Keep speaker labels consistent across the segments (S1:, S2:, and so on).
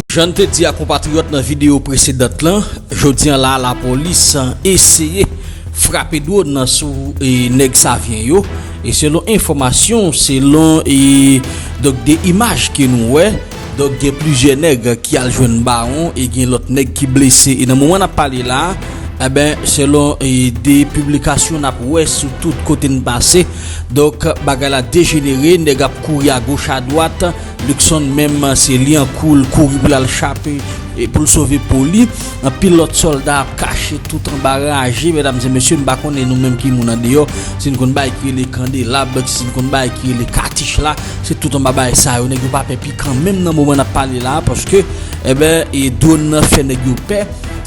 S1: Jan n te di a konpatriyòt nan videyo presedant lan, jodi an la a lapolis eseye frape dwòn nan sou nèg Savyen yo e selon enfòmasyon, selon donk de imaj ke nou wè donk gen plizyè nèg ki al jwenn bawon e gen lòt nèg ki blese e nan moman n ap pale la a, enben selon de piblikasyon n ap wè sou tout kote n pase. Donk bagay la dejenere, nèg ap kouri a goch a dwat, Luckson menm se Liancourt l kouri pou l al chape e pou l sove po li. Anpil lòt sòlda ap kache tout anba raje, medam e mesye m pa konnen nou menm ki moun andeyò si n konn bagay ki rele kandelab, si n konn bagay ki rele katich la, se tout anba bagay sa yo nèg yo pa pè pikan menm nan moman n ap pale la paske eben e dwòn nan fè nèg yo pè.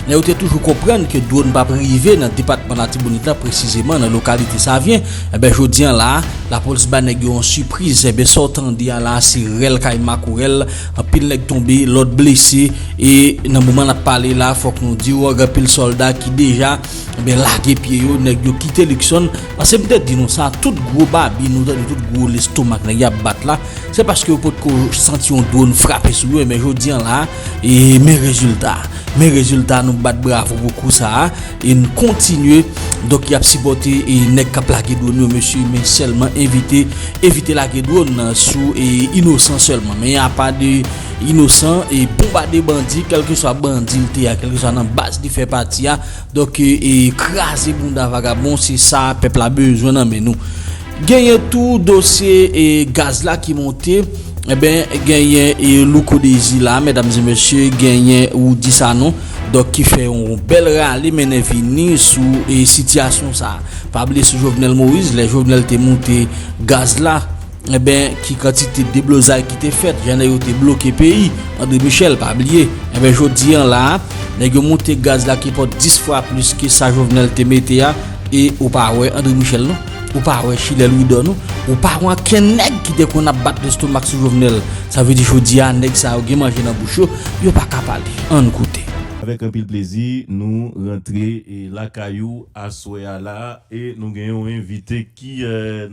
S1: Men yo te toujou konprann ke dwòn pap rive nan depatman Latibonit la presizeman nan lokalite Savyen. Enben jodi an la a, lapolis ba nèg yo yon sipriz. Enben sa w tande a la a se rèl kay makorèl. Anpil nèg tonbe, lòt blese. E nan moman n ap pale la a, fòk nou di w gen anpil sòlda ki deja enben lage pye yo. Nèg yo kite Luckson. Pase m te di nou sa, tout gwo babin ou tande tout gwo lestomak nèg y ap bat la, se paske yo potko santi yon dwòn frape sou yo. Enben jodi an la a, E men rezilta, men rezilta nou bat bravo pou kou sa a e n kontinye donk y ap sipòte e nèg k ap lage dronn yo mesye men sèlman evite evite lage dronn sou e inosan sèlman men apa de inosan e bonbade bandi kèlkeswa bandi l te ya kèlkeswa nan baz li fè pati a donk e kraze bounda vagabon se sa pèp la bezwen nan men nou. Genyen tou dosye e gaz la ki monte enben genyen e louko dezi la medam e mesye genyen roudi sanon dòk ki fè yon bèl rale mennen vini sou e sitiyasyon sa pa bliye sou jovenel moïse lè jovenel te monte gaz la enben ki kantite deblozay ki te fèt jan nèg yo te bloke peyi andre michel pa bliye enben jodi an la nèg yo monte gaz la ki pot 10 fwa plis ke sa jovenel te mete a e ou pa wè andre michel non. Ou pa wè chilè louidò non. Ou pa wè ankenn nèg ki te konn ap bat lestomak sou Jovenel. Sa vle di jodi a nèg sa yo gen manje nan bouch yo, yo pa ka pale. Ann koute. Avèk anpil plezi
S2: nou rantre lakay ou aswè a la e nou gen yon envite ki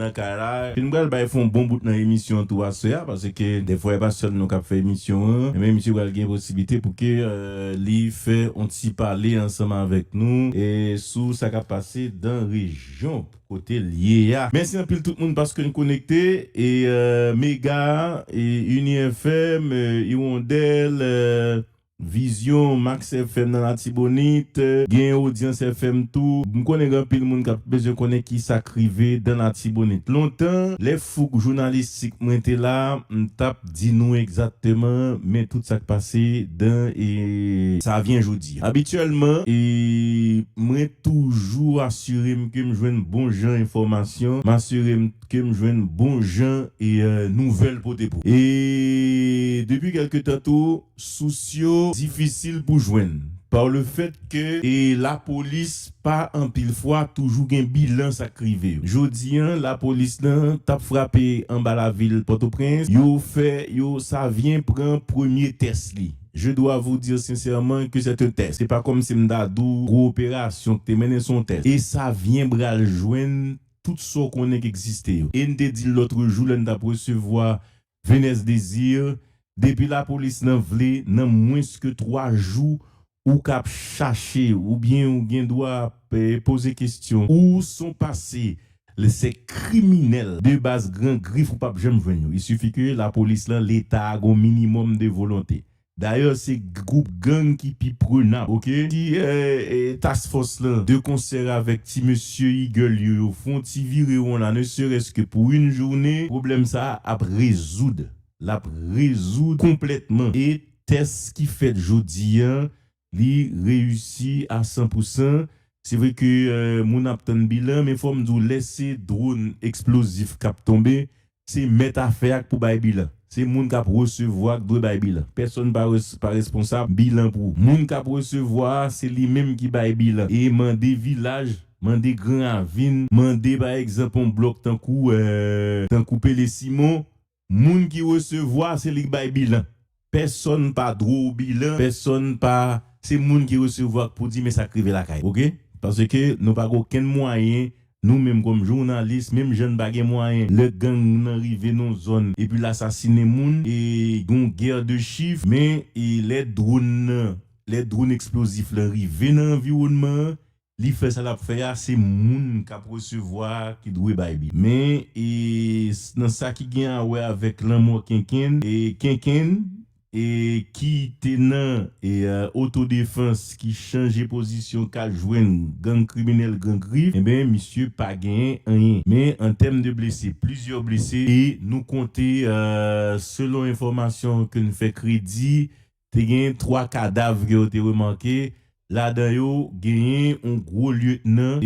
S2: nan kay la e nou pral bay fon bon bout nan emisyon an tou aswè a paske dèfwa e pa sèl nou kap fè emisyon an enben misye pral gen posiblite pou ke li fè yon ti pale ansanm avèk nou e sou sa kap pase dan rejyon. Jump kote l ye a. Mèsi anpil tout moun paske n konekte e mega uni FM iwondèl vizyon max FM nan latibonit gen odyans FM tou m konnen gen anpil moun kap bezwen konnen kisa k rive dan latibonit lontan lè fouk jounalistik mwen te la m tap Di nou egzatteman men tout sa k pase dan e. Sa vyen jodi. Abityèlman e mwen toujou asire m ke m jwenn bon jan enfòmasyon, m asire m ke m jwenn bon jan e nouvèl pote pou. E depi kèlke tan tou Sous yo difisil pou jwenn par le fait ke e lapolis pa anpil fwa toujou gen bilan sa k rive yo. Jodi an lapolis nan t ap frape anba lavil Pòtoprens, yo fè yo sa vyen pran premye tès li. Je dois vous dire sincèrement que c'est un test. Se pa kòmsi m ta di w gwo operasyon k te mennen se yon tès. E sa vyen bral jwenn tout sa w konnen k egziste yo. E n te di l lotrejou lè n t ap resevwa Venez Désir depi la police nan vle nan mwens ke 3 jou ou kap chache ou byen ou gen dwa poze kestyon. Ou son pase le se kriminel. De baz gran grif ou pap janm jwenn yo. Il suffit ke la police lan leta a gon minimum de volonte. Dayè se group gang ki pi prenab ok si task fòs lan de konsèr avèk ti mesye eagle yo yo fon ti vire won la ne serès ke pou yn joune pwoblèm sa ap rezoud lap rezoud konplètman e tès ki fèt jodi an Li reyisi a san pou san. Se vre ke moun ap tann bilan men fòm di w lè se dwon eksplozif k ap tonbe se mèt afè a k pou bay bilan. Se moun k ap resevwa k dwe bay bilan. Pèsonn pa responsab bilan pou moun k ap resevwa a. Se li menm ki bay bilan e mande vilaj, mande gran ravin, mande pa egzanp on blòk tankou tankou Pele Simon Moun ki resevwa se li k bay bilan pèsòn pa dwe w bilan pèsòn pa se moun ki resevwa k pou di men sak rive lakay ok paske nou pa gen okenn mwayen nou menm kòm jounalis menm jan n pa gen mwayen lè gang nan rive nan yon zòn epi l asasinen moun e gen yon gè de chif men e lè dwon nan lè dwon eksplozif lan rive nan anviwònman an Li fè sa lap fè a se moun kap resevwa a ki dwe bay li men e nan sa ki gen a wè avèk lanmò kenkenn e kenkenn e ki te nan e oto defans ki chanje pozisyon kal jwenn gang kriminèl gran grif enben misye pa gen anyen men an tèm de blese plizyè blese e nou konte selon enfòmasyon ke n fè kredi Te genyen 3 kadav ke yo te remake, ladan yo genyen yon gwo lieutenant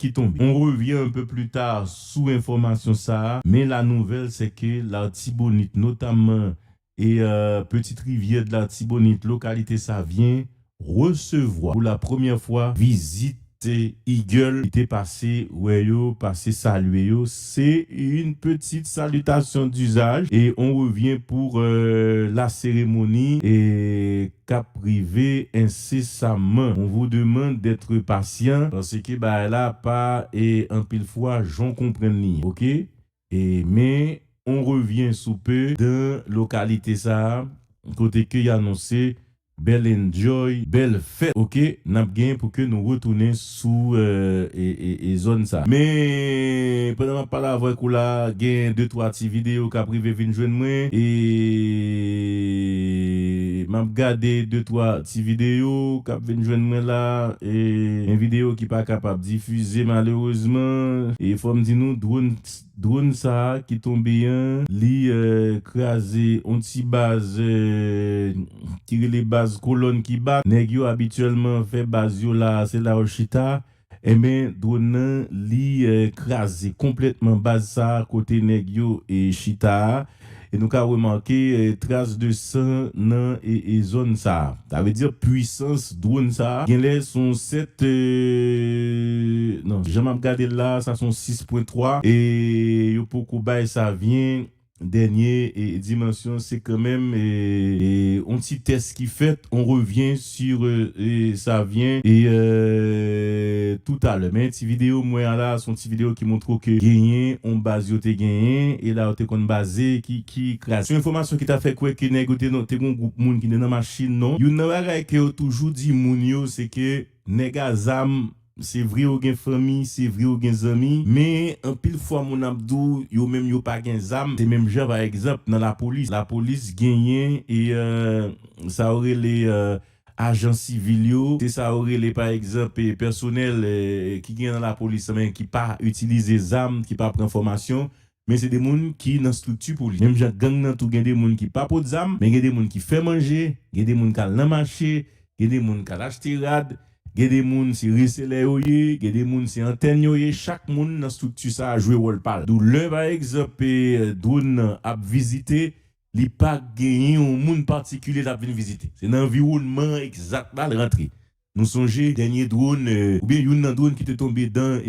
S2: ki tonbe. On revient un peu plus tard sou enfòmasyon sa a, men la nouvelle c'est que l'Artibonite, notamment Petite Rivière de l'Artibonite, localité Savien, recevwa pou la première fois vizit. Se Eagle ki te pase wè yo, pase salye yo. Se yn petit salutation d'usage et on revient pour la cérémonie kap rive incessamment. On vous demande d'être patient parce que bagay la pa anpil fwa jan w konprann li ok. E men, on revyen sou pe. Dan lokalite sa a, kote ke y anonse bèl enjoy, bèl fèt ok n ap gen pou ke nou retounen sou e zòn sa a. Men, pandan m ap pale avèk ou la a, gen de twa ti videyo k ap rive vin jwenn mwen e m ap gade de twa Ti videyo kap vin jwenn mwen la gen videyo ki pa kapab difize malerezman e fòm di nou drone sa ki tonbe an li kraze on ti baz ki rele baz kolòn ki bat nèg yo abityèlman fè baz yo la se la yo chita. Enben drone nan li kraze konplètman baz sa kote nèg yo chita a e nou ka remake tras de san nan zòn sa. Sa vle di pwisans drone sa genlè son 7 non jan map gadel la sa son 6 pwen 3 e yo poko bay sa vyen. Dènye dimansyon se kanmenm yon ti tès ki fèt, on revyen sur sa vyen tout alè. Men ti videyo m wè a la, son ti videyo ki montre w ke genyen yon baz yo te genyen e la yo te konn baze ki kraze. Son enfòmasyon ki ta fè kwè ke nèg yo te nan, te gon gwoup moun ki te nan machin non. Youn nan bagay ke yo toujou di moun yo se ke nèg a zam Se vre yo gen fanmi, se vre yo gen zanmi, men anpil fwa moun ap di w yo menm yo pa gen zam, se menm jan pa egzanp nan lapolis, lapolis genyen sa yo rele ajan sivil yo, se sa yo rele pa egzanp pèsonèl ki gen nan lapolis lan men ki pa itilize zam, ki pa pran fòmasyon, men se de moun ki nan strikti pou li. Menm jan gang nan tou gen de moun ki pa pot zam, men gen de moun ki fè manje, gen de moun k al nan mache, gen de moun k al achte rad, gen de moun se reselè yo ye, gen de moun se antèn yo ye, chak moun nan strikti sa a jwe wòl pa l. Dou lè pa egzanp dwòn nan ap vizite, li pa genyen yon moun patikilye l ap vin vizite. Se nan anviwònman egzat la l rantre. Nou sonje dènye dron oubyen youn nan dron ki te tonbe dan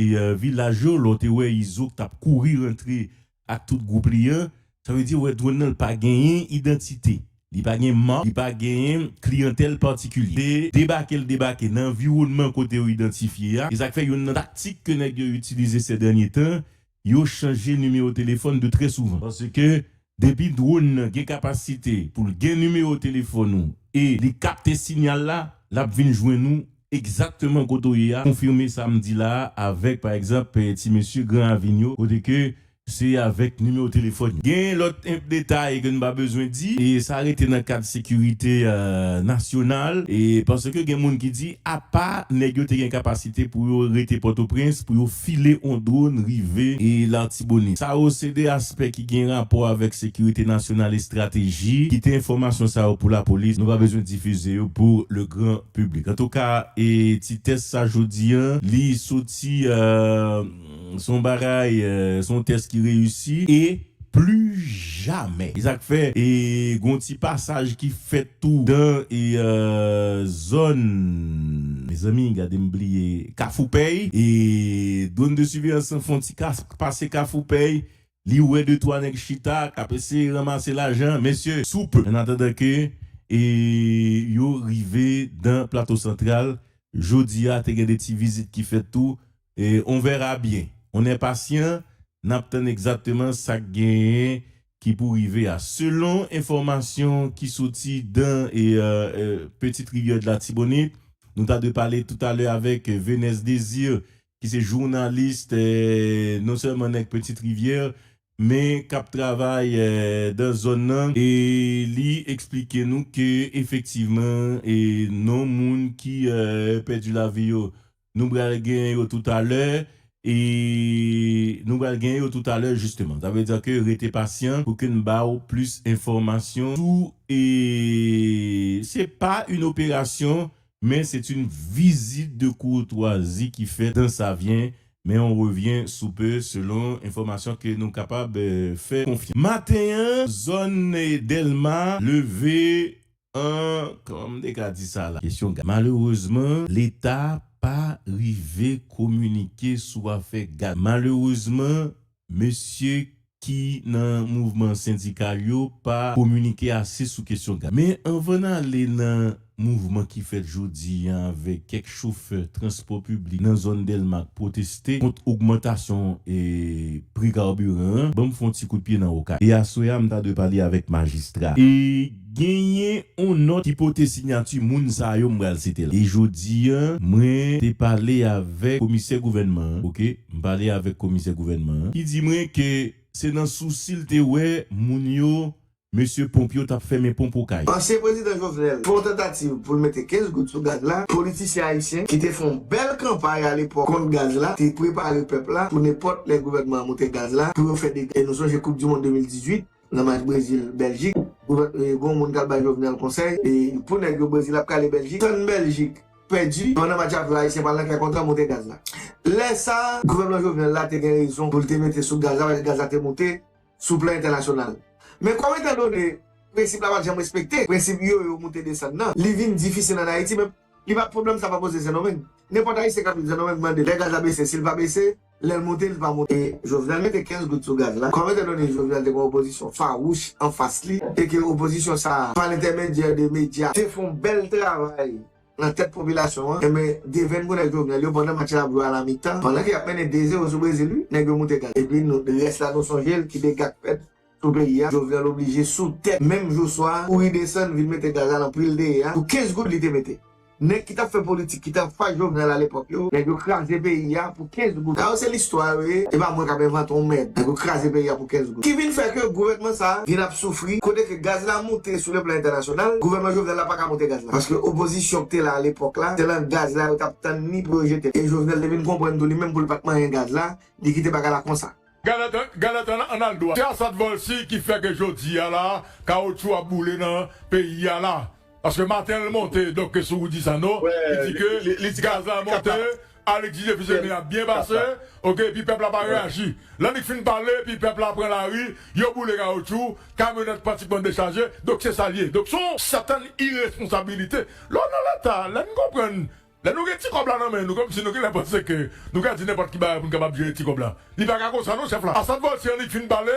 S2: vilaj yo lè w te wè Izo k t ap kouri rantre ak tout gwoup li an. Sa vle di wè dron nan l pa genyen idantite, li pa gen mak, li pa gen kliyantèl patikilye. Se debake l debake nan anviwònman kote yo idantifye a. E sa k fè youn nan taktik ke nèg yo itilize sèdènye tan yo chanje nimewo telefòn de trè souvan. Paske depi dwonn nan gen kapasite pou l gen nimewo telefòn ou e li kapte sinyal la, l ap vin jwenn ou egzakteman kote w ye a, konfime sa m di la a avèk pa egzanp ti mesye Gran Ravin yo kote ke se avèk nimewo telefòn yo. Gen lòt enp detay ke n pa bezwen di e sa rete nan kad sekirite nasyonal e paske gen moun ki di apa nèg yo te gen kapasite pou yo rete Pòtoprens pou yo file on dwon rive Latibonit. Sa yo se 2 aspè ki gen rapò avèk sekirite nasyonal estrateji. Kite enfòmasyon sa yo pou lapolis, nou pa bezwen difize yo pou le gran piblik. Antouka e ti tès sa jodi an li soti se yon bagay se yon tès ki reyisi e. Plu jamè. E sak fè e gon ti pasaj ki fèt tou dan e zòn mezanmi gade m bliye kafoupèy e dwon de siveyans lan fon ti kask pase kafoupèy li wè de twa nèg chita kap eseye ranmase lajan mesye souple an atandan ke e yo rive dan plato santral jodia te gen de ti vizit ki fèt tou on verra bien, on enpasyan nap tann egzatteman sak genyen ki pou rive a. Selon enfomasyon ki soti dan petite rivière de l'Artibonite, nou ta dwe pale tout alè avek Venès Désir ki se journaliste non selman nèg petite rivière men kap travay dan zòn nan e li eksplike nou ke efektivman non moun ki pèdi lavi yo Nou bral gen yo tout a lè e nou bral gen yo tout a lè jisteman. Sa vle di ke rete pasyan pou ke n ba ou plis enfòmasyon sou e se pa yn operasyon men se t yn vizit de kourtwazi ki fèt dan sa vyen men on revyen sou pe selon enfòmasyon ke nou kapab fè konfyans. Maten an zòn Dèlma leve Ahh kman m te ka di sa la. Kesyon gaz malerezman leta pa rive kominike sou afè gaz malerezman mesye ki nan mouvman sendikal yo pa kominike ase sou kesyon gaz men anvan n ale nan mouvman ki fèt jodi an avèk kèk chofè transpò piblik nan zòn dèlma k pwoteste kont ogmantasyon pri karbiran an ban m fon ti kout pye nan okay e aswè a m ta dwe pale avèk majistra e Genyen on nòt ki pote sinyati moun sa yo m pral site la. E jodi an, mwen te pale avèk komisè gouvènman an, ok, m pale avèk komisè gouvènman an, ki di mwen ke se nan sousi l te wè moun yo, mesye ponp yo t ap fèmen ponp Okay. Ansyen prezidan Jovenel
S3: fè yon tantativ pou l mete 15 goud sou gaz la, politisyen ayisyen ki te fè yon bèl kanpay alepòk kont gaz la te prepare pèp la pou nenpòt lè gouvènman an moute gaz la pou yo fè dega. E nou sonje koup di mond 2018. Nan match Brezil Beljik gon moun kap bay Jovenel konsèy pou nèg yo Brezil ap kale Beljik tann Beljik pèdi pandan match la ap jwe Ayisyen pral nan kay kontre moute gaz la lè sa gouvènman Jovenel la te gen rezon poul te mete sou gaz la paske gaz la te moute sou plan entènasyonal men kòm etan done prensip la pat janm respekte prensip yo yo moute desann nan li vin difisil an Ayiti men li pa pwoblèm sa pa poze Sendomeng nenpòt Ayisyen kap viv Sendomeng mandel lè gaz la bese sil pa bese Lèl monte li pa monte. Jovenel mete 15 goud sou gaz la, kòm etandone Jovenel te gen opozisyon fawouch anfas li e ke opozisyon sa a, pa lentèmedyè de medya, te fon bèl travay nan tèt popilasyon an, enben devenn pou nèg Jovenel yo pandan match la ap jwe a la mitan, pandan ke yap mennen 2 zero sou Brezil wi, nèg yo moute gaz. Epi nou, rès la nou sonje l, ki dega k fèt. Pou peyi a, Jovenel oblije sou tè menm jou swa a kouri desann vin mete gazal anpil deye a pou 15 goud li te mete. Nèg ki tap fè politik ki te anfas Jovenel alepòk yo, nèg yo kraze peyi a pou 15 goud. Sa yo se listwa yo ye, e pa mwen kap envante yon mèd. Nèg yo kraze peyi a pou 15 goud. Ki vin fè ke gouvènman sa a vin ap soufri kote ke gaz la moute sou le plan entènasyonal, gouvènman Jovenel la paka moute gaz la paske opozisyon ki te la alepòk la se lan gaz la yo tap tann ni pou yo jete l. E Jovenel te vin konprann tou li menm pou li pat manyen gaz la, li kite bagay la konsa. Galatan
S4: an al dwat. Se Asad Volcy ki fè ke jodi a la kawotchou ap boule nan peyi a la. Paske maten l monte donk ke sou Rudy Sanon ki di ke gaz la monte, Alexis Jefus Aimé ap byen pase ok epi pèp la pa reyaji. Lè li k fin pale epi pèp la pran lari yo boule kawotchou, kamyonèt pratikman dechaje donk se sa l ye. Donk son sètèn iresponsabilite lè w nan leta lè n konprann Lè nou gen ti kòb la nan men nou kòmsi nou genlè panse ke nou ka di nenpòt ki bagay pou nou kapab jere ti kòb la. Li pa ka konsa non chèf la. Assad Volcy annik fin pale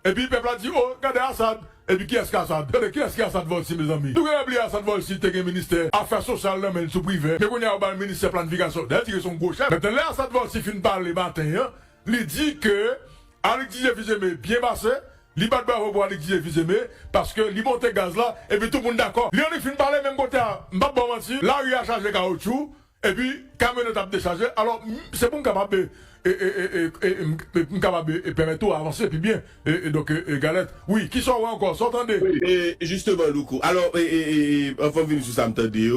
S4: epi pèp la di oh gade Assad epi kiyès ki Assad? Tande kiyès ki Assad Volcy mezanmi? Nou genlè bliye Assad Volcy te gen ministè afè sosyal nan menl sou privè men kounya yo bal ministè planifikasyon. Dayè li di ke son gwo chèf. Mètnan lè Assad Volcy fin pale maten an li di ke Alix DJ Fils-Aimé byen pase. Li bat bravo pou Alix DJ Fils-Aimé paske li monte gaz la epi tout moun dakò. Leonic fin pale menm kote a m pap baw manti lari a chaje kawotchou epi kamyonèt ap dechaje alò se pou m kapab m kapab pèmèt ou avanse pi byen donk Galette wi kisa w wè ankò
S5: sa w tande.
S4: Wi
S5: e
S4: jisteman
S5: Louco alò anvan m vini sou sa m
S4: tande
S5: yo.